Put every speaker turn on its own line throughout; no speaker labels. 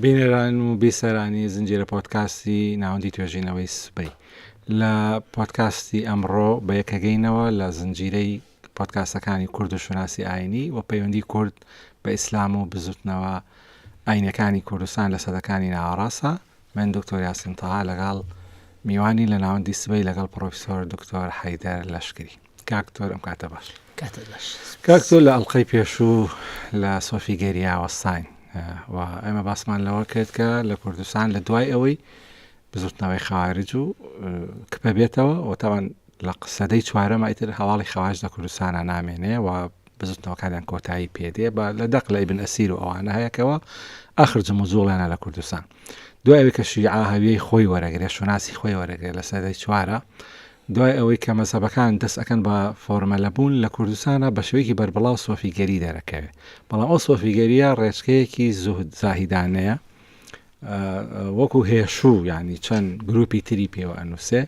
بینەران و بیسەرانی زنجیرە پۆدکاستی ناوەندی توێژینەوەی سبەی لە پۆدکاستی ئەمڕۆ بە یەکەگەینەوە لە زنجیرەی پۆدکاستەکانی کورد و شوناسی ئاینی و پەیوەندی کورد بە ئیسلام و بزوتنەوە ئاینەکانی کوردستان لە سەدەکانی ناوەڕاستە من دکتۆر یاسین تەها لەگەڵ میوانی لە ناوەندی سبەی لەگەڵ پرۆفیسۆر دکتۆر حەیدەر لەشکری کاکتۆر ئەم کاتە باش کاکتۆر لە ئەڵلقەی پێشوو لە سۆفی گەریاوەستاین و ئێمە باسمان لەوە کرد کە لە کوردستان لە دوای ئەوەی بزوتنەوەی خارج و کپە بێتەوە و تاوان لە قسەدەی چوارەمایتر هەواڵی خواش لە کوردستانە نامێنێ و بزوتنەوەکانیان کۆتایی پێدێ بە لە دەق لە ئیبن ئەسیر و ئەوانە هەیەکەوە ئاخر جم و جوڵێنە لە کوردستان دوایەوەی کە شیعە هەویەی خۆی وەرەگرێ شوناسی خۆی وەرەگرێت لە سەدەی چوارە دوای ئەوەی کە مەزهەبەکان دەست ئەکەن بە فۆرمەلە بوون لە کوردستانا بە شێوەیەکی بەربڵاو سۆفیگەری دەرەکەوێ بەڵام ئەو سۆفیگەریە ڕێچکەیەکی زوهد زاهیدانەیە وەکو هێشوو یعنی چەند گروپی تری پێوە ئەنووسێ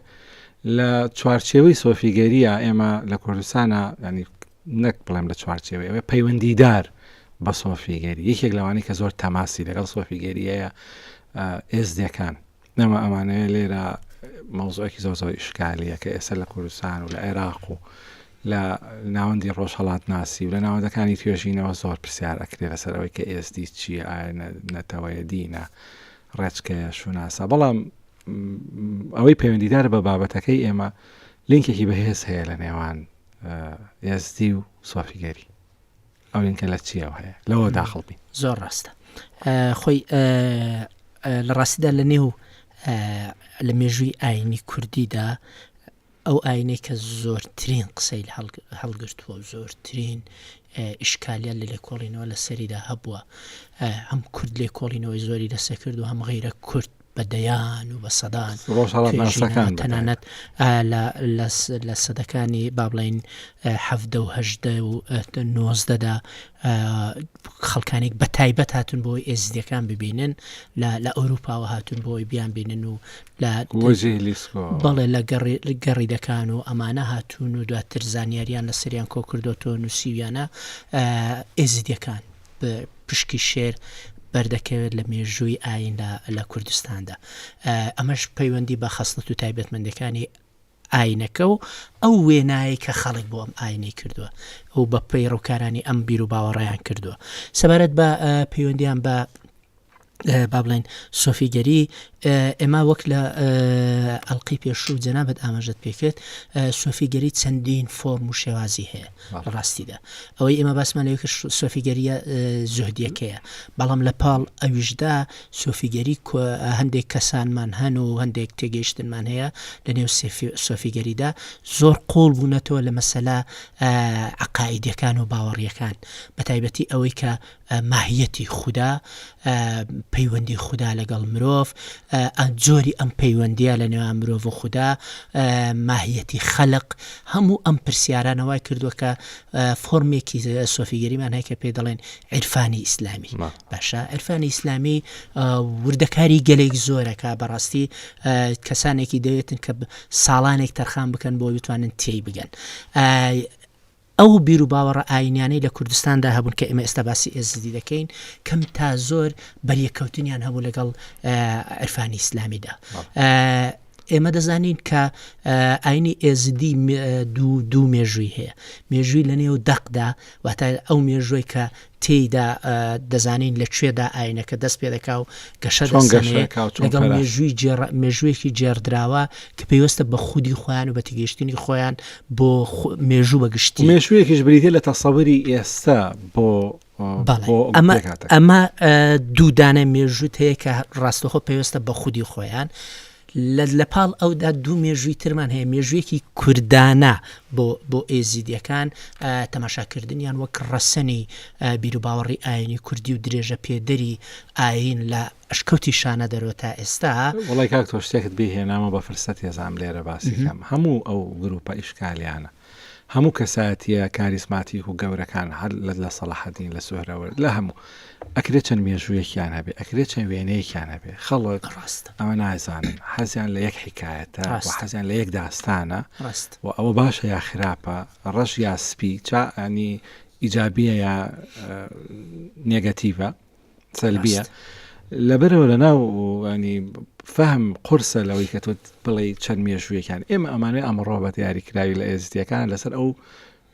لە چوارچێوەی سۆفیگەریە ئێمە لە کوردستانا ینی نەک بڵێم لە چوارچێوەی ئەوێ پەیوەندیدار بە سۆفیگەری یەکێک لەوانی کە زۆر تەماسی لەگەڵ سۆفیگەریەیە ئێزدەکان نەما ئەمانەیە لێرە مەوزوعێکی زۆر زۆر ئیشکالییە کە ئێستا لە کوردستان و لە عێراق و لە ناوەندی ڕۆژهەڵاتناسی و لە ناوەندەکانی توێژینەوە زۆر پرسیار ئەکرێ لەسەر ئەوەی کە ئێزدی چییە ئایا نەتەوەیە دینە ڕێچکەیە شوناسە بەڵام ئەوەی پەیوەندیدار بە بابەتەکەی ئێمە لینکێکی بەهێز هەیە لە نێوان ئێزدی و سۆفیگەری ئەو لینکە لە چیەوە هەیە لەوە داخڵ بین زۆر ڕاستە
خۆی لە ڕاستیدا لە نێو لە مێژووی ئاینی کوردیدا ئەو ئاینەی کە زۆرترین قسەی هەڵگرتووە و زۆرترین ئیشکالیان لە لێکۆڵینەوە لە سەریدا هەبووە هەم کورد لێکۆڵینەوەی زۆری لەسەکرد و هەم غیرە کورد بە دەیان و بە سەدان تەنانەت لە سەدەکانی بابلین هەدە و هەدە و نۆزدەدا خەڵکانێک بە تایبەت هاتون بۆی ئێزدیەکان ببینن لە ئەوروپاوە هاتون بۆی بیان بینن و لە بەڵێ لە گەڕی دەکان و ئەمانە هاتون و دواتر زانیاریان لە سریان کۆکردۆتۆ نووسیویانە ئێزدیەکان پشکی شێر بەردەکەوێت لە مێژووی ئایندا لە کوردستاندا ئەمەش پەیوەندی بە خەستەت و تایبەتمەندەکانی ئاینەکە و ئەو وێنایی کە خەڵک بۆ ئەم ئاینەی کردووە ئەو بە پەیڕووکارانی ئەم بیر و باوەڕیان کردووە سەبارەت بە پەیوەندیان بە با بڵێن سۆفیگەری ئێمە وەک لە ئەلقی پێشوو جەنابەت ئاماژت پێکرد سۆفیگەری چەندین فۆرم و شێوازی هەیە لە ڕاستیدا ئەوەی ئێمە باسمان لەوێک سۆفیگەریە زۆهدیەکەیە بەڵام لە پاڵ ئەویشدا سۆفیگەری هەندێک کەسانمان هەن و هەندێک تێگەیشتنمان هەیە لە نێو سۆفیگەریدا زۆر قۆڵ بوونەتەوە لە مەسەلا عقاعیدەکان و باوەڕیەکان بە تایبەتی ئەوەی کە ە، ماهیەتی خودا، ە، پەیوەندی خودا لەگەڵ مرۆڤ، ە، جۆری ئەم پەیوەندییە لە نێوان مرۆڤ و خودا، ە، ماهیەتی خەلق، هەموو ئەم پرسیارانە وای کردووە کە فۆرمێکی سۆفیگەریمان هەیە کە پێی دەڵێن عیرفانی ئیسلامی. باشە عیرفانی ئیسلامی وردەکاری گەلێک زۆرە کە بە ڕاستی کەسانێکی دەوێتن کە ساڵانێک تەرخان بکەن بۆی بتوانن تێی بگەن. ئەو بیروباوەڕە ئایینیانەی لە کوردستاندا هەبوون کە ئێمە ئێستا باسی ئێزدی دەکەین کەم تا زۆر بەریەککەوتنیان هەبوو لەگەڵ عرفانی ئیسلامیدا ئێمە دەزانین کە ئاینی ئێزدی دوو دوو مێژووی هەیە مێژووی لە نێو دەقدا واتە ئەو مێژووی کە تێیدا دەزانین لە کوێدا ئاینەکە دەست پێ دەکا و گەشە لەگەڵ مێژووی مێژوویەکی جێڕدراوە کە پێیوەستە بە خودی خۆیان و بە تگەیشتنی خۆیان بۆ مێژوو بەگشتی مێژوویەکیش بریتە لە
تەسەوری ئێستا بۆ ئەمە
ئەمە دوودانە مێژووت هەیە کە ڕاستەخۆ پێویستە بە خودی خۆیان لە لە پاڵ ئەودا دوو مێژووی ترمان هەیە مێژوویەکی کوردانە بۆ بۆ ئێزیدیەکان تەماشاکردنیان وەک ڕەسەنی بیروباوەڕی ئاینی کوردی و درێژە پێدەری ئاین لە ئەشکەوتی شانە دەرەوە تا ئێستا وڵی کاک تۆ شتێکت
بهێنامە بە فرسەت هێزان لێرە باسیکەم هەموو ئەو گروپە ئیشکالیانە هەموو کەسایەتیە کاریزماتیک و گەورەکان هەر لە لە سەڵاحەدین لە سوهرەوەرد لە هەموو ئەکرێ چەند مێژوویەکیان هەبێ ئەکرێ چەند وێنەیەکیان هەبێ خەڵک ڕاست ئەوە نازانن حەزیان لە یەک حکایەتە و ڕاست حەزیان لە یەک داستانە ڕاست و ئەوە باشە یا خراپە ڕەش یا سپی چا ینی ئیجابیە یا ئە، نێگەتیڤە سەلبیە لەبەرەوە لە ناو ینی فەهم قرسە لەوەی کە تۆ بڵێ چەند مێژوویەکان ئێمە ئەمانوێ ئەمڕۆ بە دیاریکراوی لە ئێزدیەکان لەسەر ئەو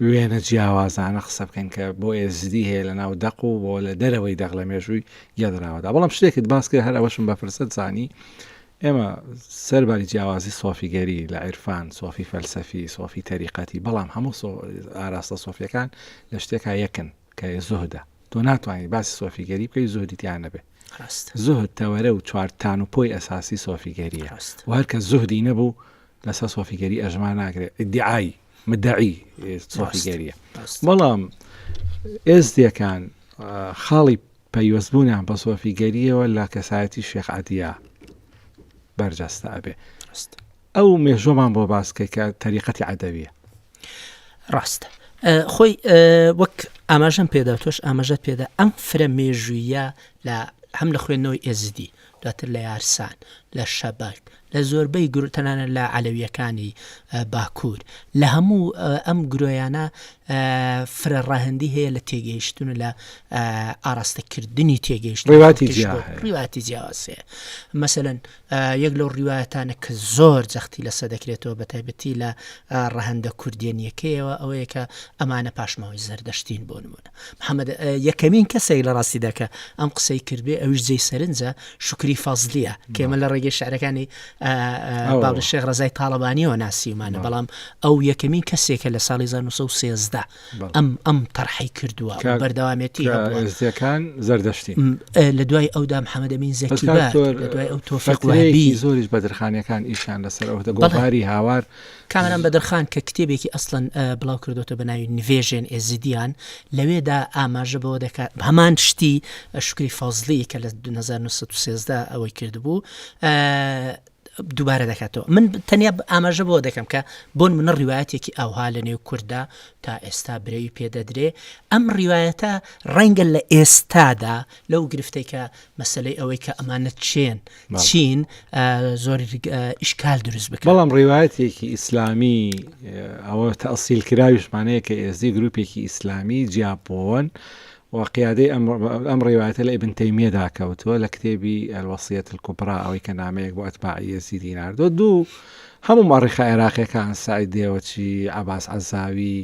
وێنە جیاوازانە قسە بکەن کە بۆ ئێزدی هەیە لە ناو دەق و بۆ لە دەرەوەی دەق لە مێژووی گەدراوەدا بەڵام شتێکت باس کرد هەر ئەوەشم بەپرسە زانی ئێمە سەرباری جیاوازی سۆفیگەری لە عیرفان سۆفی فەلسەفی سۆفی تەریقەتی بەڵام هەموو ئاراستە سۆفیەکان لە شتێکا یەکن کە زۆهدا تۆ ناتوانی باسی سۆفیگەری بکەی زوهدی تیا نەبێ زوهد تەوەرە و چوار تان و پۆی ئەساسی سۆفیگەریە و هەرکە زوهدی نەبوو لەسەر سۆفیگەری ئەژما ناکرێت ئیدعای مدعی سۆفیگەریە بەڵام ئێزدیەکان خاڵی پەیوەستبوونیان بە سۆفیگەریەوە لە کەسایەتی شێخ عەدیا بەرجەستە ئەبێ ئەو مێژوەمان بۆ باسکە کە تەریقەتی عادەویە
ڕاستە خۆی وەک ئاماژەم پێدا تۆش ئاماژە پێدا ئەم فرە مێژوویە لە هەم لە خوێندنەوەی ئێزدی دواتر لە یارسان لە شەبەک لە زۆربەی گروتەنانە لە علەویەکانی باکوور لە هەموو ئەم گرۆیانە فرە ڕاهندی هەیە لە تێگەیشتون لە ئاراستەکردنی تێگەیشت ڕواتی جیاوازێ مەسەن یەک لەو ڕیواەتانە کە زۆر جەختی لەسە دەکرێتەوە بە تایبەتی لە ڕەهندە کوردێنیەکەیەوە ئەوەیە کە ئەمانە پاشماوەی زەردەشتین بۆ نمونە محەممەد یەکەمین کەسێک لە ڕاستی دەکە ئەم قسەی کردێ ئەوش جێ سەرنجە شکری فازلیە کێمە لە ڕێگەی شعرەکانی باڵ شێخ ڕزای تاالبانیەوە ناسیمانە بەڵام ئەو یەکەمین کەسێکە لە ساڵی 1970 ئەم ئەم تەرحی کردووە بەردەوامێتی هەڵێزیەکان
زەردەشتی لە دوای
ئەودا محەممەدەمین زەکی دوای ئەو تۆفەقی زۆریش بەدرخانەکان
ئیشان لەسەر ئەو دەگۆڵباری هاوار کامران بەدرخان
کە کتێبێکی ئەسڵەن بڵاو کردوتە بە ناوی نوێژێن ئێزیدیان لەوێدا ئاماژە بەوە دەکات هەمان شتی شکری فەزلی کە لە 1970 ئەوەی کردبوو دووبارە دەکاتەوە من تەنیا ئاماژە بۆ دەکەم کە بۆن منە ڕیواەتێکی ئەوها لە نێو کووردا تا ئێستا برەوی پێدەدرێ ئەم ڕیواەتە ڕەنگە لە ئێستادا لەو گرفتێکە مەسلەی ئەوەی کە ئەمانە چێن چین زۆر ئیشکال دروست بکە بەڵام ڕیواەتێکی
ئیسلامی ئەوە تەسیل کراویشمانەیە کە ئێزدی گروپێکی ئیسلامی جیاپۆن وە قیادەی ئەم ڕیوایەتە لە ئیبن تەیمیەدا کەوتووە لە کتێبی، الوصیە الکبری، ئەوەی کە نامەیەک بۆ ئەتباعی یەزیدی ناردووە، دوو هەموو مەئڕیخە عێراقیەکان، سەعید دێوەچی، عەباس عەزاوی،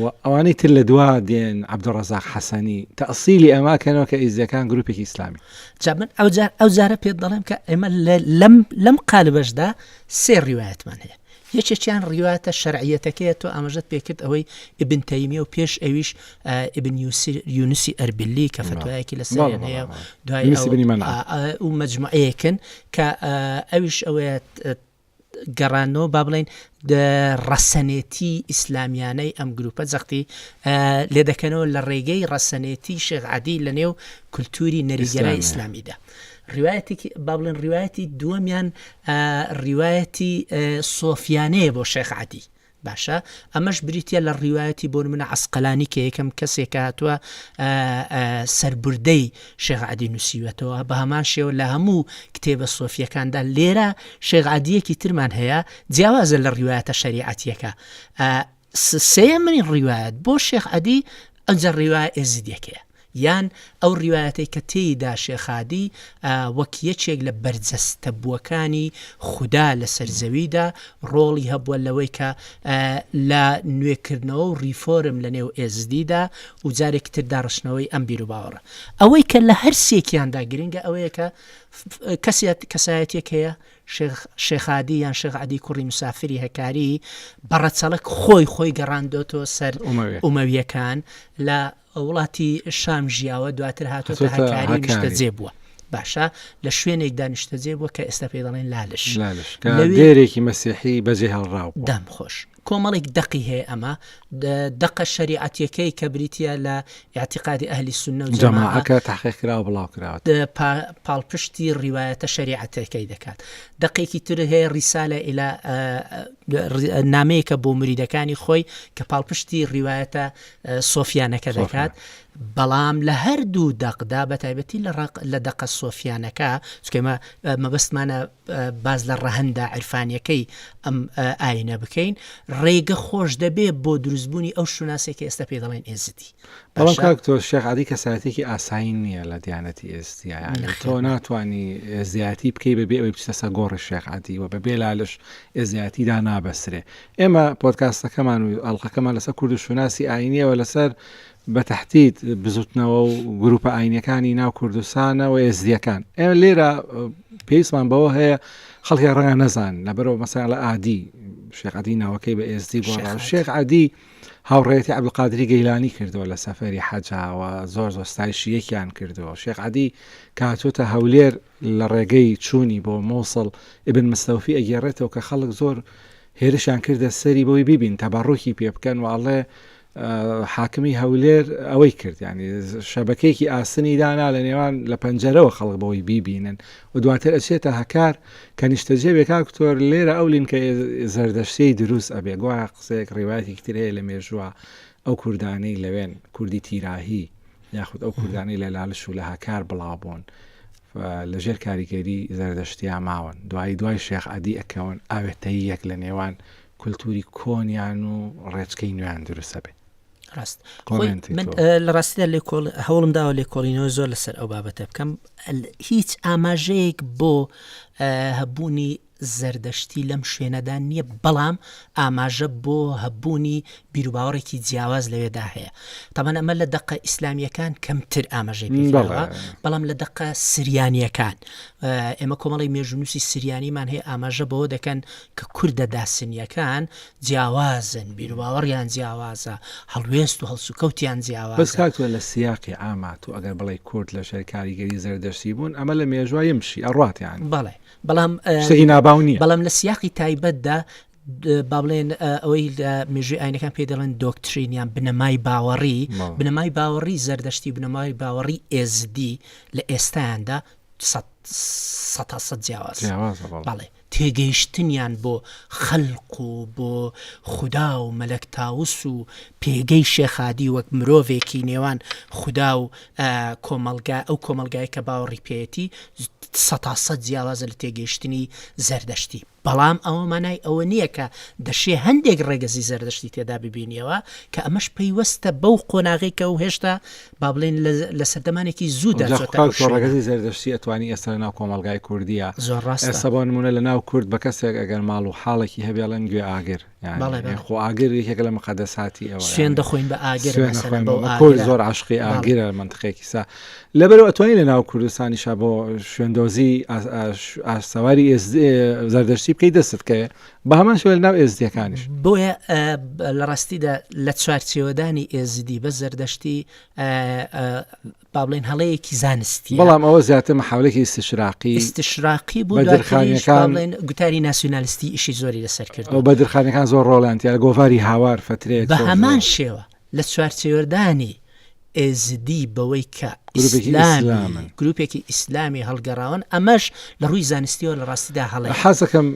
و ئەوانەی تر لە دوا دێن، عەبدولڕەزاق حەسەنی، تەئسیلی ئەمە کەنەوە کە ئیزدیەکان گروپێکی ئیسلامی. جا من ئەوجار
ئەوجارە پێت دەڵێم کە ئێمە لەم لەم قالبەشدا سێ ڕیوایەتمان هەیە، یەکێکیان ڕیوایەتە شەرعیەتەکەیە تۆ ئاماژەت پێکرد ئەوەی ئیبن تەیمیە و پێش ئەویش ئیبن یونسی ئەربیلی کە فتوایەکی لەسەریان هەیە و دوای یونس بن منع. ئەو مجموعەیەکن کە ئەویش ئەوەیە گەڕانەوە با بڵێن ڕەسەنێتی ئیسلامیانەی ئەم گروپە جەختی لێ دەکەنەوە لە ڕێگەی ڕەسەنێتی شێخ عادی لە نێو کولتوری نەریگەرای ئیسلامی. ئیسلامیدا ڕیوایەتێکی با بڵێن ڕیوایەتی دووەمیان ڕیوایەتی سۆفیانەیە بۆ شێخ عەدی باشە ئەمەش بریتە لە ڕیواەتی بۆ منە عسقلانی کە یەکەم کەسێک هاتووە سربردەی شێغعادی نووسیوەتەوە بە هەمان شێوە لە هەموو کتێبە سۆفیەکاندا لێرە شێغعادیەکی ترمان هەیە جیاوازە لە ڕیواەتە شەریعەتیەکە سێیەمین ڕیوایەت بۆ شێخ عەدی ئەوجە ڕیوایە ئێزیدیەکەیە یان ئەو ڕیوایەتەی کە تێیدا شێخ عەدی وەک یەکێک لە بەرجەستەبووەکانی خودا لەسەر زەویدا ڕۆڵی هەبووە لەوەی کە لە نوێکردنەوە و ڕیفۆرم لە نێو ئێزدیدا و جارێکی تر داڕشتنەوەی ئەم بیروباوەڕە ئەوەی کە لە هەر سێکیاندا گرنگە ئەوەیە کە کەسێت کەسایەتێک هەیە شێخ شێخادی یان شێخ عەدی کوڕی مسافری هەکاری بە ڕەچەڵەک خۆی خۆی گەڕاندۆتەوە سەر ئۆمەوێ ئومەویەکان لە وڵاتی شام ژیاوە دواتر هاتۆتە هاتۆتە هەکاری هەکاری. نیشتەجێ بووە باشە لە شوێنێک دانیشتەجێ بووە کە ئێستا پێی دەڵێن لالش لالش کە لەوێ- دێرێکی
مەسیحی بەجێ هێڵراو بوو. دەم خۆش
کۆمەڵێک دەقی هەیە ئەمە دەقە شەریعەتیەکەی کە بریتە لە ئاعتیقادی ئەهلی سنە و جەماعەکە تحقیقراوە
بڵاو کراوە پاڵپشتی
ڕیواەتە شەریعەتەکەی دەکات دەقێکی تر هەیە ڕیسالە ئیلا نامەیەکە بۆ مریدەکانی خۆی کە پاڵپشتی ڕیواەتە سۆفیانەکە دەکات بەڵام لە هەردوو دەقدا بە تایبەتی لە ڕق لە دەقە سۆفیانەکە چکەمە مەبەستمانە باس لە ڕەهەندە عرفانیەکەی ئەم ئاینە بکەین ڕێگە خۆش دەبێ بۆ دروستبوونی ئەو شوناسێکی ئێستا پێ دەڵێن ئێزدی تۆ
شێخعادی کەساتێکی ئاسایی نییە لە دیانەتی ئێزدیان تۆ ناتانی زیاتی بکەی بەبێ ئەوی بچتە سە گۆڕی شێخعادی و بە بێلالش ئێزیاتیدا نابەسرێ ئێمە پۆتکاستەکەمان و ئەڵلقەکەمان لەسەر کورد و شوناسی ئاینیەوە لەسەر بە تەحدید بزوتنەوە و گروپە ئاینەکانی ناو کوردستانە و ئێزدیەکان ئێمە لێرە پێیسمان بەوە هەیە خەڵکی ڕەنگە نەزان لەبەرەوە مەسای لە ئادی شێخعادی ناوەکەی بە ئێزدی بۆ شێخ عادی هاوڕێتی عبلقادری گەیلانی کردەوە لە سەفری حەجاوە زۆر زۆستایشی یەکیان کردەوە شێخ عادی کاتۆتە هەولێر لە ڕێگەی چوونی بۆ مۆسڵ ئبن مستەوفی ئەگەێڕێتەوە کە خەڵک زۆر هێرشیان کردە سەری بۆی ببین تەبەڕۆکی پێ بکەن وڵێ حاکمی هەولێر ئەوەی کرد یانی شەبەکەیەکی ئاسنی دانا لە نێوان لە پەنجەرەوە خەڵک بەوەی بیبینن و دواتر ئەچێتە هەکار کە نیشتەجێ بێکاکتۆر لێرە ئەو لینکە زەردەشتەی دروست ئەبێ گووا قسەیەک ڕیواەتی ترەیە لە مێژووە ئەو کوردانەی لەوێن کوردی تیراهی یاخود ئەو کوردانەی لە لالش و لە هەکار بڵاوبوون لە ژێر کاریگەری زەردەشتیا ماون دوایی دوای شێخ عادی ئەکەون ئاوێتەیەک لە نێوان کولتوری کۆنیان و ڕێچکەی نوێیان دروست ئەبێ. ڕاست
کۆمێنت من کەوە. ئە، لە ڕاستیدا لێکۆڵ هەوڵم داوە لێکۆڵینەوە زۆر لەسەر ئەو بابەتە بکەم ئەل- هیچ ئاماژەیەک بۆ ئە، هەبوونی زەردەشتی لەم شوێنەدا نییە بەڵام ئاماژە بۆ هەبوونی بیروباوەڕێکی جیاواز لەوێدا هەیە تەبەن ئەمە لە دەقە ئیسلامییەکان کەمتر ئاماژەی پێ بەڵێ. کراوە بەڵام لە دەقە سریانییەکان ئە، ئێمە کۆمەڵی مێژونوسی سریانیمان هەیە ئاماژە بەوە دەکەن کە کوردە داسنییەکان جیاوازن، بیروباوەڕیان جیاوازە، هەڵوێست و هەڵسوکەوتیان بەس جیاوازە. کاک تۆ لە سیاقی
عاما تۆ ئەگەر بڵێی کورد لە ژێر کاریگەری زەردەشتی بوون ئەمە لە مێژوە یمشی ئەڕات یانی بەڵێ بەڵام
شتەکی ناباو نیە. بەڵام لە سیاقی تایبەتدا با بڵێن ئەوەی لە مێژوی ئاینەکان پێی دەڵێن دۆکترین یان بنەمای باوەڕی بەڵێ. بنەمای باوەڕی زەردەشتی بنەمای باوەڕی ئێزدی لە ئێستایاندا سەد سەتا سەد جیاوازە جیاوازە بەڵێ. بەڵێ. تێگەیشتنیان بۆ خەلق و بۆ خودا و مەلەک تاوس و پێگەی شێخ هادی وەک مرۆڤێکی نێوان خودا و کۆمەلگا ئەو کۆمەلگایەی کە باوەڕی پێیەتی سەتا سەد جیاوازە لە تێگەیشتنی زەردەشتی بەڵام ئەوە مانای ئەوە نییە کە دەشێ هەندێک ڕێگەزی زەردەشتی تێدا ببینیەوە کە ئەمەش پەیوەستە بەو قۆناغی کە و هێشتا با بڵێن لە سەردەمانێکی زوودا جا چۆتە ئەو خۆ شوێنە. ڕەگەزی
زەردەشتی ئەتوانی ئێستا لەناو کۆمەڵگای کوردیە زۆر ڕاستە. ئێستا بۆ
نموونە لەناو
کورد بە کەسێک ئەگەر ماڵ و حاڵێکی هەبێ ئەڵێن گوێ ئاگر یانی بەڵێ، بەڵێ. یان خۆ ئاگر یەکێکە لە مقەدەساتی ئێوە سوێن یانی دەخۆین بە ئاگر
سوێن مەسەلەن ئەخۆین بەو بە کورد ئاگرە. زۆر
عاشقی بەڵێ. ئاگرە لە مەنتقێکی سا لەبەرو ئەتوانی لە ناو کوردستانیشا بۆ شوێندۆزی ئاش- ئاش- ئاش سواری ئێزدی زەردەشتی بکەی دەستت کەوێ بە هەمان شێوە لەناو ئێزدیەکانیش. بۆیە
لە ڕاستیدا لە چوارچێوەدانی ئێزدی بە زەردەشتی با بڵێن هەڵەیەکی زانستی بەڵام ئەوە زیاتر
محاولێکی استشراقی استشراقی
بوو بە درخانیەکان بڵێن گوتاری ناسیونالیستی ئیشی زۆری لەسەر کرد و بە درخانەکان زۆر
ڕۆڵانتیە لە گۆڤاری هاوار فترێک بە هەمان شێوە
لە چوارچێوەردانی ئێزدی بەوەی کە ئیسلامی گروپێکی ئیسلامی هەڵگەڕاون ئەمەش لە ڕووی زانستیەوە لە ڕاستیدا هەڵێ حەزەکەم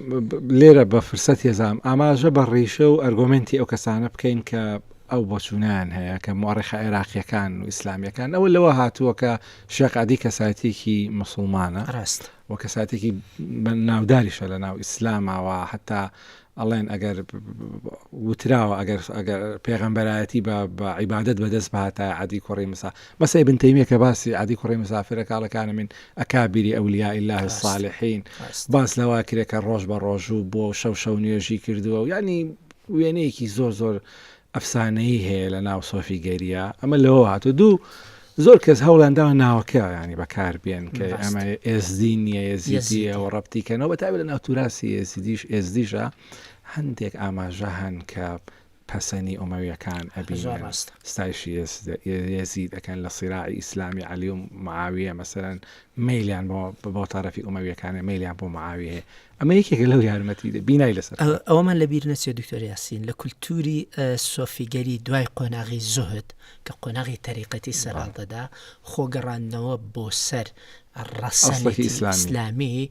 لێرە بە فرسەت هێزام ئاماژە بە ڕیشە و ئەرگۆمنتی ئەو کەسانە بکەین کە ئەو بۆچوونیان هەیە کە مۆڕێخە عێراقیەکان و ئیسلامیەکان ئەوە لەوە هاتووە کە شێقعادی کەساتێکی مسلمانە ڕاست وە
کەساتێکی
ناوداریشە لە ناو ئیسلامەوە حتا ئەڵێن ئەگەر وتراوە ئەگەر ئەگەر پێغەمبەرایەتی بە بە عیبادت بەدەست بهاتایە عادی کوڕی مسا بەس ابن تەیمیە کە باسی عادی کوڕی مسافرە کاڵەکانە من ئەکابیری ئەولیا الله الصالحین باس لەوا کرێکە ڕۆژ بە ڕۆژوو بۆ شەو شەو نوێژی کردووە و ینی وێنەیەکی زۆر زۆر ئەفسانەیی هەیە لە ناو سۆفی گەرییا ئەمە لەوەوە هاتووە دوو زۆر کەس هەوڵیان داوە ناوەکەیانی بەکار بێن کە بەست ئەمە ئێزدی نییە ئێزیدیە یەزیدی و ڕەبتی کەنەوە بە تابێت لە ناو توراسی ئێزیدیش ئێزدیشە هەندێک ئاماژە هەن کە پەسەنی ئۆمەویەکان هە زۆر ئەبینن ڕاستە ستایشی ئێزد ئێزید ئەکەن لە سیراعی ئیسلامی عەلی و معاویە مەسەلەن مەیلیان بۆ بۆ تەرەفی ئۆمەویەکانە مەیلیان بۆ معاویە هەیە ئەمە یەکێکە لەو یارمەتی دە بینای لەسەر ئەوەمان لەبییر نەچێت
دکتۆر یاسین لە کولتوری سۆفیگەری دوای قۆناغی زۆهد کە قۆناغی تەریقەتی سەرهاڵدەدا خۆگەڕاندنەوە بۆ سەر ڕەسەڵێکی ئیسلامی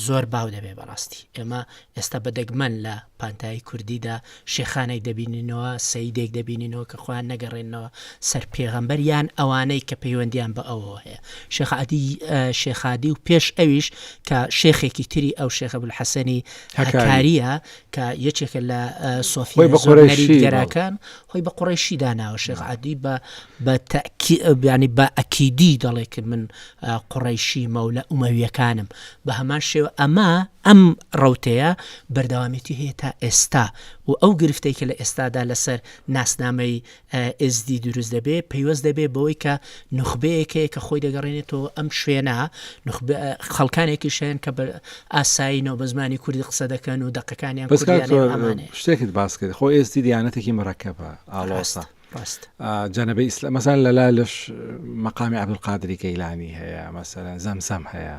زۆر باو دەبێ بەڕاستی ئێمە ئێستا بەدەگمەن لە پانتایی کوردیدا شێخانێک دەبینینەوە، سەیدێک دەبینینەوە کە خۆیان نەگەڕێننەوە سەر پێغەمبەر یان ئەوانەی کە پەیوەندیان بە ئەوەوە هەیە. شێخ عەدی، شێخ عەدی و پێش ئەویش کە شێخێکی تری ئەو شێخ ئەبولحەسەنی هەکارییە کە یەکێکە لە سۆفییە زۆرنەریتگەراکان، خۆی بە قوڕەیشی داناوە. شێخ عەدی بە بە تەکی بیانی بە ئەکیدی دەڵێ کە من قوڕەیشیمە و لە ئومەوییەکانم. بە هەمان شێوە ئەمە، ئەم ڕەوتەیە بەردەوامێتی هەیە تا ئێستا و ئەو گرفتەی کە لە ئێستادا لەسەر ناسنامەی ئێزدی دروست دەبێ پەیوەست دەبێ بەوەی کە نوخبەیەک هەیە کە خۆی دەگەڕێنێتەوە ئەم شوێنە، خەڵکانێکیش هەن کە بە ئاسایینەوە بە زمانی کوردی قسە دەکەن و دەقەکانیان کوردییە. بەس کاک تۆ شتێکت
باس کرد، خۆ ئێزدی دیانەتێکی مورەکەبە، ئاڵۆسە. ڕاست. جەنەبەی ئیسلا، مەسەلەن لە لالش مەقامی عەبدولقادری گەیلانی هەیە، مەسەلەن زەمزەم هەیە.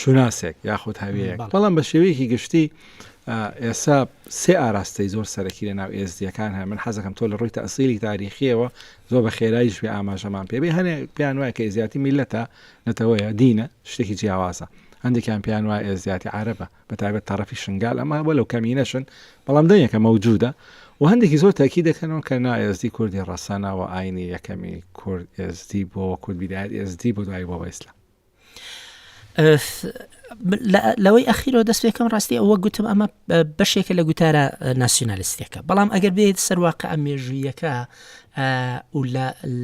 شوناسێک یاخود هەویەک بەڵام بە شێوەیەکی گشتی ئێسا سێ ئاراستەی زۆر سەرەکی لە ناو ئێزدیەکان هەیە من حەزەکەم تۆ لە ڕووی تەسیری تاریخیەوە زۆر بە خێرایش بێ ئاماژەمان پێ بێ هەنێ پێیان وایە کە ئێزیاتی میلەتە نەتەوەیە دینە شتێکی جیاوازە هەندێکیان پێیان وایە ئێزیاتی عربە بە تایبەت تەڕەفی شنگال ئەمە بە لەو کەمینەشن بەڵام دەنگەکە مەوجودە و هەندێکی زۆر تاکی دەکەنەوە کە نا ئێزدی کوردی ڕەسەنەوە ئاینی یەکەمی کورد ئێزدی بۆ کورد بیداەت ئێزدی بۆ دوای بۆ بەیسلام
لەوەی ئەخیرەوە دەست پێکەم ڕاستی ئەوە گوتم ئەمە بەشێکە لە گوتارە ناسیۆنالیستەکە بەڵام ئەگەر بێت سەرواقع ئە مێژوویەکە و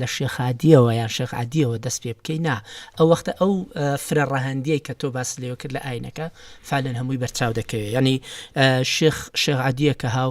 لە شێخادیەوە یان شێخعادیەوە دەست پێ بکەینا ئەو وەختە ئەو فرە ڕەهندیە کە تۆ باس لێوە کرد لە ئاینەکە فالەن هەمووی بەرچاو دەکەوێت ینی شێخ شێخعادیە کە هاو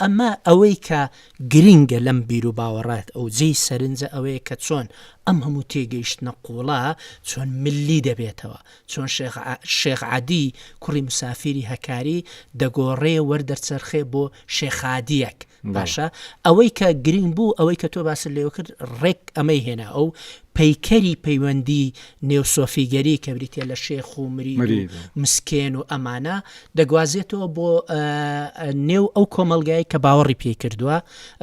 ئەمە ئەوەی کە گرینگە لەم بیروباوەڕات ئەو جێی سەرنجە ئەوەیە کە چۆن ئەم هەموو تێگەیشتنە قووڵە چۆن ملی دەبێتەوە چۆن شێخ شێخ عەدی کوڕی مسافیری هەکاری دەگۆڕێ وەردەرچەرخێ بۆ شێخادیەک باشە ئەوەی کە گرینگ بوو ئەوەی کە تۆ باست لێوە کرد ڕێک ئەمەی هێنا ئەو پەیکەری پەیوەندی نێو سۆفیگەری کە بریتیە لە شێخ و مرید و مسکێن و ئەمانە دەگوازێتەوە بۆ نێو ئەو کۆمەلگای کە باوەڕی پێی کردووە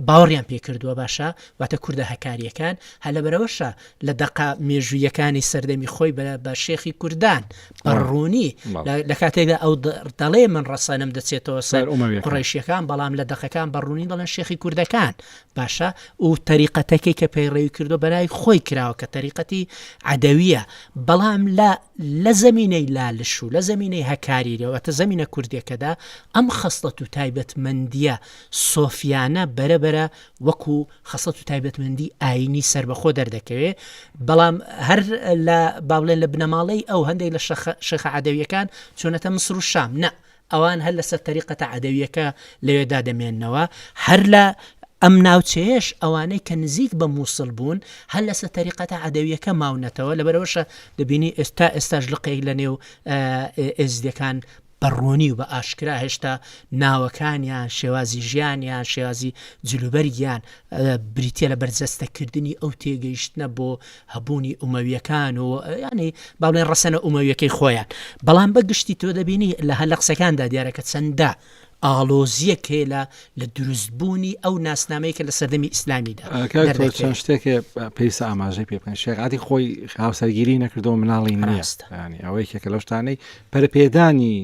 باوەڕیان پێ کردووە باشە واتە کووردە هەکاریەکان هەلەبەرەوەشە لە دەقا مێژوویەکانی سەردەمی خۆی بە شێخی کوردان بەڕوونی لە کاتێکدا ئەو دەڵێ من ڕەسەنم دەچێتەوە سەر قڕیشیەکان بەڵام لە دەقەکان بەڕوونی دەڵێن شێخی کوردەکان باشە و تەریقەتەکەی کە پەیڕەوی کردوە بەرای خۆی کراوە کە تەریقەتی عدەویە بەڵام لە لە زمینەی لالش و لە زمینەی هەکاریرەوەتە زمینە کوردەکەدا ئەم خەستەت و تایبەتمەندیە سۆفیانە بەرەبەرە وەکو خەسەت و تایبەتمەندی ئاینی سربەخۆ دەردەکەوێ بەڵام هەر لە باڵێن لە بنەماڵەی ئەو هەندێک لە شەخە عدەویەکان چۆنەتە مسر و شام نە ئەوان هەر لەسەر تەریقەتە عەدەوییەکە لەوێدا دەمێننەوە، هەر لە ئەم ناوچەیەش ئەوانەی کە نزیک بە مووسڵ بوون هەر لەسەر تەریقەتە عەدەوییەکە ماونەتەوە، لەبەرئەوەشە دەبینی ئێس تا ئێستاش لقێک لەنێو ئێزدییەکان بە ڕوونی و بە ئاشکرا هێشتا ناوەکانیان، شێوازی ژیانیان، شێوازی جلوبەرگیان بریتییە لە بەرجەستەکردنی ئەو تێگەیشتنە بۆ هەبوونی ئومەویەکان و ینی باڵێن ڕەسەنە ئومەویەکەی خۆیان بەڵام بە گشتی تۆ دەبینی لە هەر لە قسەکاندا دیارەکە چەندە ئاڵۆزیە کێلا لە دروستبوونی ئەو ناسنامەیە کە لە سەردەمی ئیسلامیدا چەند شتێک
پێویستە ئاماژەی پێ بکەن شێغاتی خۆی هاوسەرگیری نەکردەوە مناڵی ناستە ینی ئەوەی کێکە لە شتانەی پەرپێدانی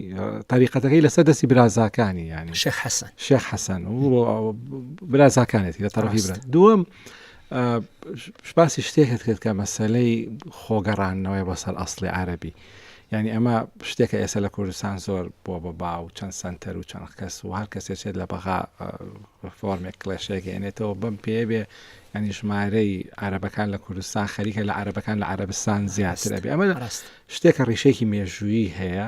تاریقەتەکەی لەسەر دەستی برازاکانی ینی شێخ حەسەن شێخ حەسەن و برازاکانێتی لە تەڕی برا دووەم باسی شتێکت کرد کە مەسەلەی خۆگەڕانەوەی بۆ سەر ئەاصلی عربی یعنی ئەمە شتێکە ئێستا لە کوردستان زۆر بۆ بە با و چەند سنتەر و چەند کەس و هەر کەسێ چێت لە بەغا فۆرمێک کلێشێکێنێتەوە بم پێ بێ ئەنی ژمارەی عربەکان لە کوردستان خەریکە لە عربەکان لە عربستان زیاتر ئەبێ ئەمە شتێکە ڕیشێکی مێژوویی هەیە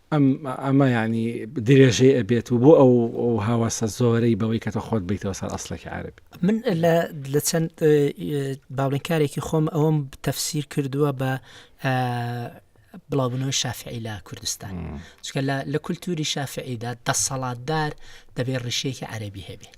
ئەم ئەمە یانی درێژەی ئەبێت و بۆ ئەو هاواسە زۆرەی بەوەی کە تە خۆت بیتەوە سەر ئەسلێکی عربی من لە
چەند باڵێنکارێکی خۆم ئەوم تەفسیر کردووە بە بڵاوبنەوەی شافعی لە کوردستان چکە لە کولتوری شافعیدا دەسەڵاتدار دەبێت ڕیشەیەکی عەربی هەبێت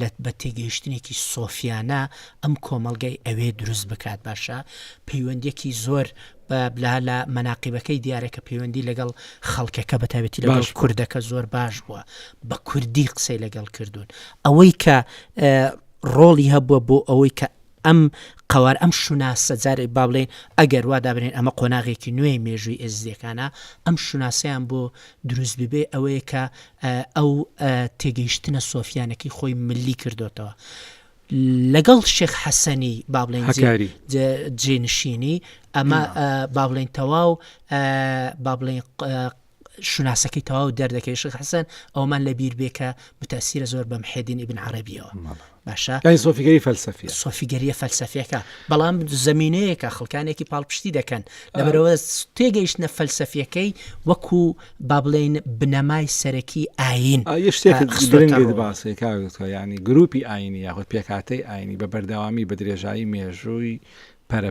لەت بە تێگەیشتنێکی سۆفیانە ئەم کۆمەلگای ئەوێ دروست بکات باشە پەیوەندێکی زۆر بە بلا لە مەناقیبەکەی دیارە کە پەیوەندی لەگەڵ خەڵکەکە بەتاوێتی لەگەڵ کوردەکە زۆر باش بووە بە کوردی قسەی لەگەڵ کردوون ئەوەی کە ڕۆڵی هەبووە بۆ ئەوەی کە ئەم قەوارە، ئەم شوناسە، جارێ با بڵێین ئەگەر وا دابنێین ئەمە قۆناغێکی نوێی مێژووی ئێزدییەکانە، ئەم شوناسەیان بۆ دروست ببێ ئەوەیە کە ئەو تێگەیشتنە سۆفییانەکەی خۆی ملی کردۆتەوە. لەگەڵ شێخ حەسەنی با بڵێین هەکاری جێنشینی ئەمە با بڵێین تەواو با بڵێین شوناسەکەی تەواو دەردەکەی شخ حسن ئەومان لە بیر بێکە متاسیرە زۆر بەم حێدین ئیبن عربیەوە باشە لای سۆفیگەری فەلسەفی
سۆفیگەریە فەلسەفیەکە
بەڵام زمینەیەکە خەڵکانێکی پاڵپشتی دەکەن لەبەرەوە تێگەیشتە فەلسەفیەکەی وەکو با بڵێن بنەمای سەرەکی ئاین
باسێکاگوتە ینی گروپی ئاینی یاخود پێکاتەی ئاینی بە بەردەوامی بە درێژایی مێژووی پەرە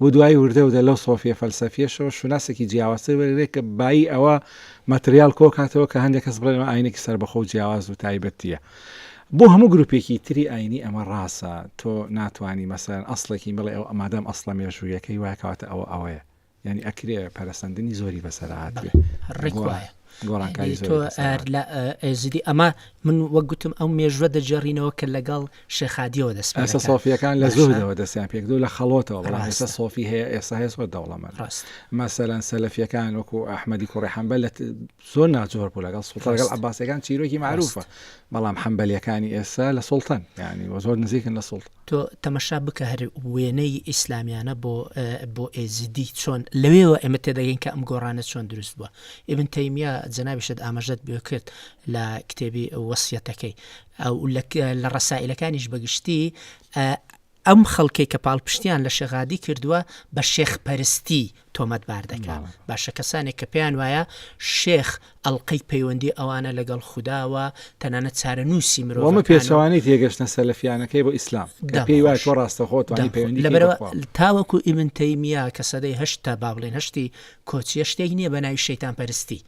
بۆ دوایی وردە وردە لەو سۆفیە فەلسەفیەشەوە شوناسێکی جیاوازتر وەرگرێت کە بایی ئەوە مەتریاڵ کۆکاتەوە کە هەندێک کەس بڵێن ئەمە ئاینێکی سەربەخۆ و جیاواز و تایبەتیە بۆ هەموو گروپێکی تری ئاینی ئەمە ڕاستە تۆ ناتوانانی مەسەرەن ئەسڵێکی بڵێ ئەو ئەمادەم ئەسڵە مێژوویەکەی وایکاتە ئەوە ئەوەیە ینی ئەکرێ پەرسەندنی زۆری بەسەرهاتێ ڕێک وایە
گۆڕانکاری تۆ
زۆری لەسەر ئار- لە
ئە- ئێزیدی ئەمە من وەک گوتم ئەو مێژوە دەجێڕینەوە کە لەگەڵ شێخادیەوە دەست پێ ئێستا دەکات. سۆفیەکان لە باشە؟
زوهدەوە دەستیان پێکردو لە خەڵۆتەوە بەڵام ڕاستە. ئێستا سۆفی هەیە ئێستا هەیە زۆر دەوڵەمەند ڕاست. مەسەلەن سەلەفیەکان وەکو ئەحمەدی کوڕی حەمبەل لە ت- زۆر ناجۆر بوو لەگەڵ سوڵتە لەگەڵ ڕاست. عباسەکان چیرۆکی معروفە بەڵام حەمبەلیەکانی ئێستا لە سوڵتەن یعنی وە زۆر نزیکن لە سوڵتە تۆ تەمەشا بکە
هەر وێنەی ئیسلامیانە بۆ بۆ ئێزیدی چۆن لەوێەوە ئێمە تێدەگەین کە ئەم گۆڕانە چۆن دروست بووە ئبن تەیمیا جەنابیشت ئاماژەت بێ کرد لە کتێبی وەسیەتەکەی ئەو لە ڕسائلەکانیش بەگشتی ئەم خەڵکەی کە پاڵپشتیان لە شەغادی کردووە بە شێخ پەرستی تۆمەتبار دەکات باشە کەسانێک کە پێیان وایە شێخ ئەڵلقەی پەیوەندی ئەوانە لەگەڵ خودداوە تەنانەت چارەنووسی مرۆمە پێچوانی تێگەشتە
سەلفیانەکەی بۆ ئیسلام پێی وای تۆ ڕاستە خۆت لەبەرەوە تاوەکو
ئیمنتەیمیا کە سەدەی هەشتا با بڵێن هەشتی کۆچیە شتێک نییە بە ناوی شەیتان پەرستی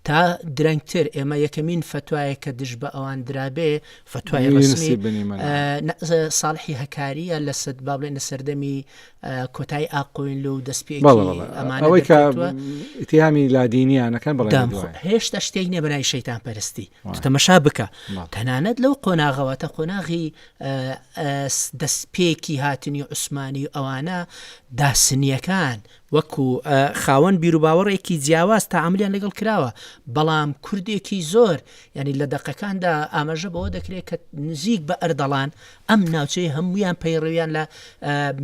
تا درەنگتر ئێمە یەکەمین فتوایە کە دژ بە ئەوان درابێ فتوای ڕسمی ساڵحی هەکاریە لە سەد با بڵێن لە سەردەمی کۆتای ئاقۆیلو و دەستپێکی بەڵێ بەڵێ ئەمانە ئەوەی کە
دەکەوتوە. ئیتهامی لادینیانەکان بەڵێ دام خۆ- دوایە. هێشتا شتێک نیە
بەنای شەیتان پەرستی وای. تەمەشا بکە بەڵێ. تەنانەت لەو قۆناغەوە تە قۆناغی ئە، ئەس، دەستپێکی هاتنی عوسمانی و ئەوانە داسنیەکان وەکو ئە، خاوەن بیروباوەڕێکی جیاواز تەعاملیان لەگەڵ کراوە بەڵام کوردێکی زۆر یانی لە دەقەکاندا ئاماژە بەوە دەکرێت کە نزیک بە ئەردەڵان ئەم ناوچەیە هەموویان پەیڕەویان لە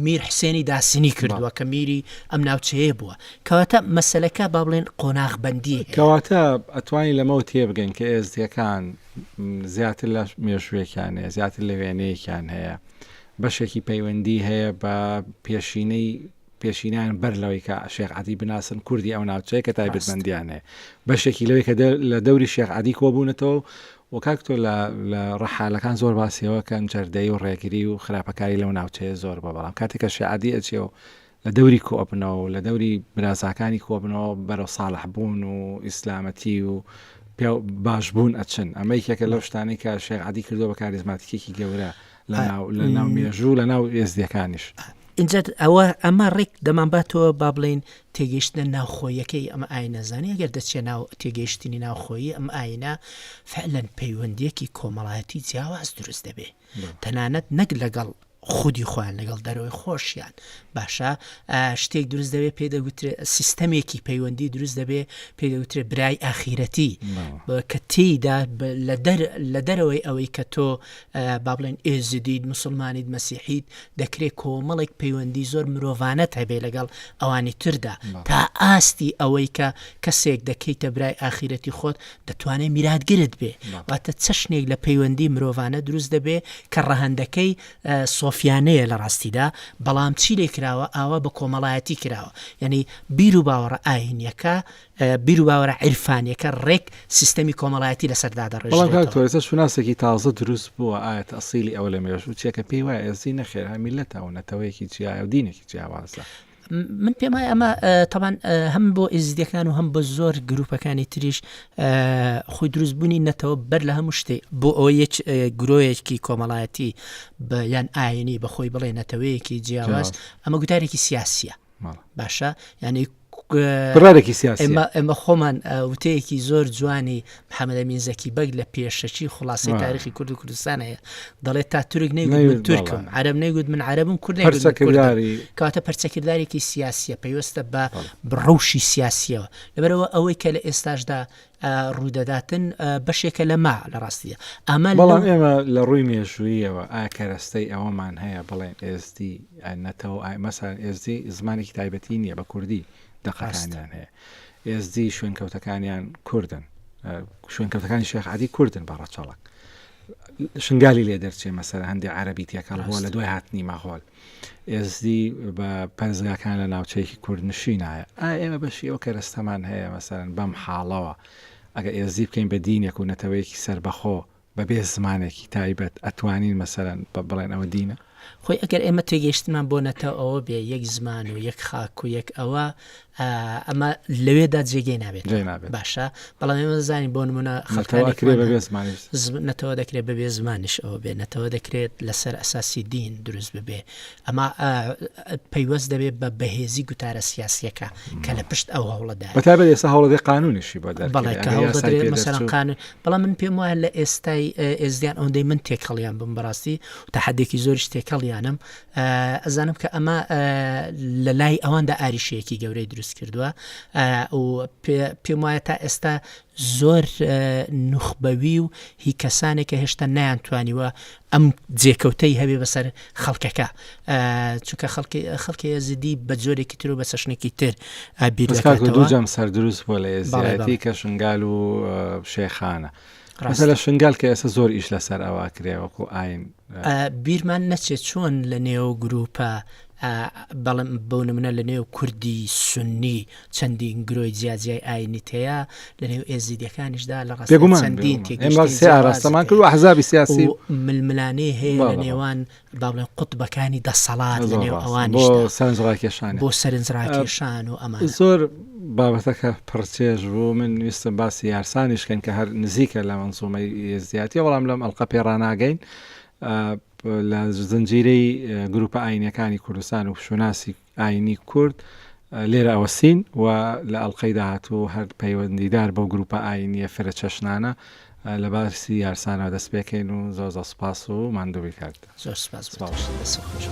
میر حسێنی داسنی کردووە کە میری ئەم ناوچەیە بووە کەواتە مەسلەکە با بڵێن قۆناغ بەندی کەواتە
ئەتوانی لەمەەوە تێبگەن کە ئێزدیەکان زیاتر لە مێژووێکیان هەیە زیاتر لە وێنەیەکیان هەیە بەشێکی پەیوەندی هەیە بە پێشینەی پێشینیان بەر لەوەی کە شێخ عادی بناسن کوردی ئەو ناوچەیە کە تایبەتمەندیان هەیە بەشێکی لەوەی کە لە دەوری شێخ عادی کۆبوونەتەوە و کاک تۆ لە لە ڕەحالەکان زۆر باسی ئەوە کەن جەردەی و ڕێگری و خراپەکاری لەو ناوچەیە زۆر بە بەڵام کاتێ کە شعادی ئەچێ و لە دەوری کۆ ئەبنەوە و لە دەوری برازاکانی کۆ بنەوە بەرەو ساڵح بوون و ئیسلامەتی و پێ باش بوون ئەچن ئەمە یەکێکە لەو شتانەی کە شێخ عەدی کردوە بە کاریزماتیکێکی گەورە لەناو مێژوو لە ناو ئێزدیەکانیش
ئینجا ئەوە ئەمە ڕێک دەمانباتەوە با بڵین تێگەیشتە ناوخۆیەکەی ئەم ئاینەزانانی گەر دەچێت ناو تێگەیشتنی ناوخۆیی ئەم ئاینە فعلەن پەیوەندێکی کۆمەڵایەتی جیاواز دروست دەبێ تەنانەت نەک لەگەڵ خودی خۆیان لەگەڵ دەرەوەی خۆشیان باشە شتێک دروست دەبێت پێ دەگوترێت سیستەمێکی پەیوەندی دروست دەبێت پێ دەوترێت برای ئاخیرەتی کە تێیدا لە دەرەوەی ئەوەی کە تۆ با بڵێن ئێزدیت، موسڵمانیت، مەسیحیت، دەکرێت کۆمەڵێک پەیوەندی زۆر مرۆڤانەت هەبێ لەگەڵ ئەوانی تردا تا ئاستی ئەوەی کە کەسێک دەکەیتە برای ئاخیرەتی خۆت دەتوانێت میراتگرت بێ واتە چەشنێک لە پەیوەندی مرۆڤانە دروست دەبێ کە ڕەهندەکەی سۆفیانەیە لە ڕاستیدا بەڵام چی لێ کراوە ئاوا بە کۆمەڵایەتی کراوە یعنی بیر و باوەڕە ئاینیەکە بیروباوەرە عیرفانیەکە ڕێک سیستەمی کۆمەڵایەتی لەسەر دادەڕێژرێتەوە. بەڵام کاک تۆرێسە
شوناسێکی تازە دروست بووە ئایەت ئەسیلی ئەوە لە مێژوو چیە کە پێی وایە ئێزدی نەخێر هەر میللەتە و نەتەوەیەکی جیایە و دینێکی جیاوازە. من پێم
وایە ئەمە تەبان هەم بۆ ئێزدیەکان و هەم بە زۆر گروپەکانی تریش خۆی دروستبوونی نەتەوە بەر لە هەموو شتێ بۆ ئەوە یەک گرۆیەکی کۆمەڵایەتی یان ئاینی بەخۆی بڵێ نەتەوەیەکی جیاواز ئەمە گوتارێکی سیاسیە باشە ینی ڕێکی
سیاسی ئێمە خۆمان
وتەیەکی زۆر جوانی محەممەدە مینزەکی بەگ لە پێشەچی خلاصی تاریخی کورد و کوردستان هەیە دەڵێت تا تورک نەیوت تورکم عرب نەیگوت من عربم کورد کاتە پەرچەکردارێکی سیاسیە پێویستە بە بڕوشی سیاسیەوە لەبەرەوە ئەوەی کە لە ئێستاشدا ڕوودەداتن بەشێکە لە ما لە ڕاستیە ئەمە بەڵام ئێمە
لە ڕووی مێژوویەوە ئاکەرەستەی ئەوەمان هەیە بڵێن ئێزدی نەتەوە ئایمەسان ئێزدی زمانێکی تایبەتی نییە بە کوردی دەقەستانیان هەیە ئێزدی شوێنکەوتەکانیان کوردن شوێنکەوتەکانی شێخعادی کوردن بە ڕەچەڵک شنگالی لێ دەرچێ مەسەر هەندی عربی تێکەڵ هۆ لە دوای هاتنی ماهۆل ئێزدی بە پەرزگاکان لە ناوچەیەکی کوردنشینایە ئایا ئێمە بەشی ئەو کەرەستەمان هەیە مەسەلەن بەم حاڵەوە ئەگەر ئێزدی بکەین بە دینێک و نەتەوەیەکی سەربەخۆ بەبێ زمانێکی تایبەت ئەتوانین مەسەلەن بە بڵێن ئەوە دینە؟ خۆی ئەگەر ئێمە
تێگەیشتنمان بۆ نەتەوە ئەوە بێ یەک زمان و یەک خاک و یەک ئەوە ئەمە لەوێدا جێگەی نابێت جێ نابێت. باشە بەڵام ئێمە دەزانین بۆ نمونە خەڵکانی کرێ بەبێ زمانیش زم- نەتەوە دەکرێت بەبێ زمانش ئەوە بێ نەتەوە دەکرێت لەسەر ئەساسی دین دروست ببێ ئەما ئا، پەیوەست دەبێت بە بەهێزی گوتارە سیاسیەکە کە لە پشت ئەو هەوڵەدا بە تابێت ئێستا هەوڵەکە
قانونیشی بە دەر بەڵێ کە هەوڵ دەدرێت مەسەرەن
قانون بەڵام من پێم وایە لە ئێستای ئێزدیان ئەوەندەی من تێکەڵیان بم بەڕاستی و تەحەدێکی زۆریش تێکەڵیانم ئەزانم کە ئەمە لە لای ئەواندا ئاریشەیەکی گەورەی دروست کردووە و پێم وایە تا ئێستا زۆر نوخبەوی و هی کەسانێک کە هێشتا نیان توانیوە ئەم جێکەوتەی هەبێ بەسەر خەڵکەکە چونکە خەڵکی خەڵکی ئەزیدی بە جۆرێکی تر و بە چەشنێکی تر بیرجام
سەر دروست بۆ لە ئێزیەتی کە شنگال و شێخانە ڕاستە لە شنگال کە ئێستا زۆر ئیش لەسەر ئەوە کرێوەکو ئاین بیرمان
نەچێت چۆن لە نێو گروپە بەڵم بەو نمونە لە نێو کوردی سنی چەندین گرۆی جیاجیای ئاینیت هەیە لە نێو ئێزیدەکانیشدا لە ڕاستگومان چەندین تێگەمان
کرد حزابی سیاسی ململانێ
هەیە لە نێوان با بڵێن قوتبەکانی دەسەڵات لە نێو ئەوانیشدا بۆ سەرنج ڕاکێشان بۆ سەرنج ڕاکێشان و ئەمان زۆر
بابەتەکە پڕچێژ بوو من ویستم باسی یارسانیش کەن کە هەر نزیکە لە منزومەی ئێزدیاتی بەڵام لەم ئەڵقە پێ ڕناگەین لە زنجیرەی گروپە ئاینەکانی کوردستان و شوناسی ئاینی کورد لێرە ئەوەستین و لە ئەڵقەی داهاتوو هەر پەیوەندیدار بەو گرووپە ئاینییە فرە چەشنانە لە باسی یارسانەوە دەست پێکەین و زۆر زۆر سپاس
و
ماندووی کارت زۆر سپاس باوەش
دەست
خۆش.